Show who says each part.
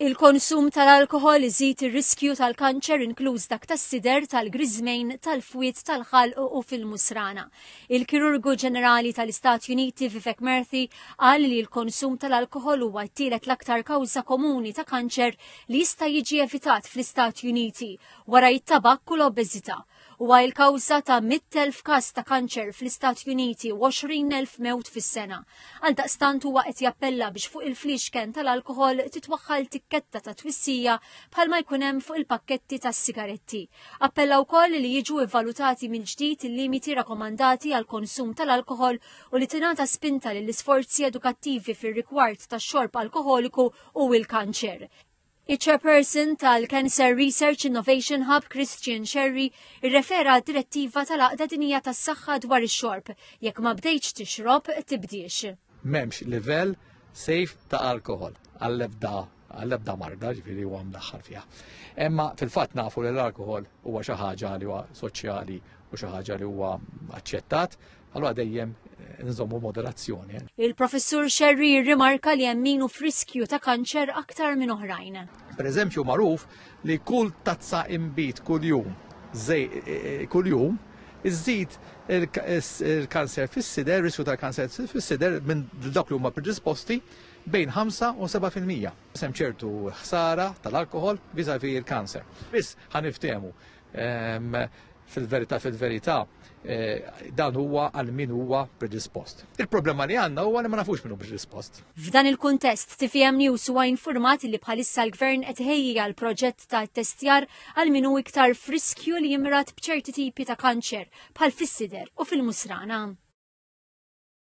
Speaker 1: Il-konsum tal-alkoħol iżid ir-riskju tal-kanċer inkluż dak tas-sider, tal-griżmejn, tal-fwied tal-ħalq u fil-musrana. Il-Kirurgu Ġenerali tal-Istati Uniti Vivek Murthy qal li l-konsum tal-alkoħol huwa t-tielet l-aktar kawża komuni ta' kanċer li jista' jiġi evitat fl-Istati Uniti wara t-tabakk u l-obeżità. Huwa il-kawża ta' 100,000 każ ta' kanċer fl-Istati Uniti u 20,000 mewt fis-sena. Għaldaqstant huwa qed jappella biex fuq il-fliexken tal-alkoħol titwaħħal tikketta ta' twissija bħalma jkun hemm fuq il-pakketti tas-sigaretti. Appella wkoll li jiġu vvalutati mill-ġdid il-limiti rakomandati għall-konsum tal-alkoħol u li tingħata spinta lill-isforzi edukattivi fir-rigward tax-xorb alkoħoliku u l-kanċer. Iċ-Chairperson tal-Cancer Research Innovation Hub Christian Scerri rrefera għad-Direttiva tal-Għaqda Dinjija tas-Saħħa dwar ix-Xorb, jekk ma bdejtx tixrob, tibdiex. M'hemmx livell
Speaker 2: safe ta' alkoħol għall-ebda għall-ebda marda, ġifiri huwa mdaħħal fiha. Imma fil-fatt nafu li l-alkohol huwa xi ħaġa li huwa soċjali u xi ħaġa li huwa aċċettat, Allora dejjem eh, nżommu moderazzjoni. Eh. Il-professur
Speaker 1: Xerri jirrimarka li hemm minu friskju ta' kanċer aktar minn oħrajn. Per eżempju magħruf
Speaker 2: li kull tazza imbit kuljum żej eh, kuljum iżżid il-kanser fis-sider, riskju tal-kanser fis-sider minn dak li huma predisposti bejn 5 u 7%. Sem ċertu ħsara tal-alkohol vizavi il-kanser. Biss ħaniftemu fil-verità fil-verità eh, dan huwa għal min huwa predispost. Il-problema li għandna huwa li ma nafux minnu predispost. F'dan il-kuntest,
Speaker 1: TFM News huwa informat li bħalissa l-Gvern qed ħejji għal proġett ta' testjar għal min hu iktar friskju li jimrat b'ċerti tipi ta' kanċer bħal fis-sider u fil-musrana.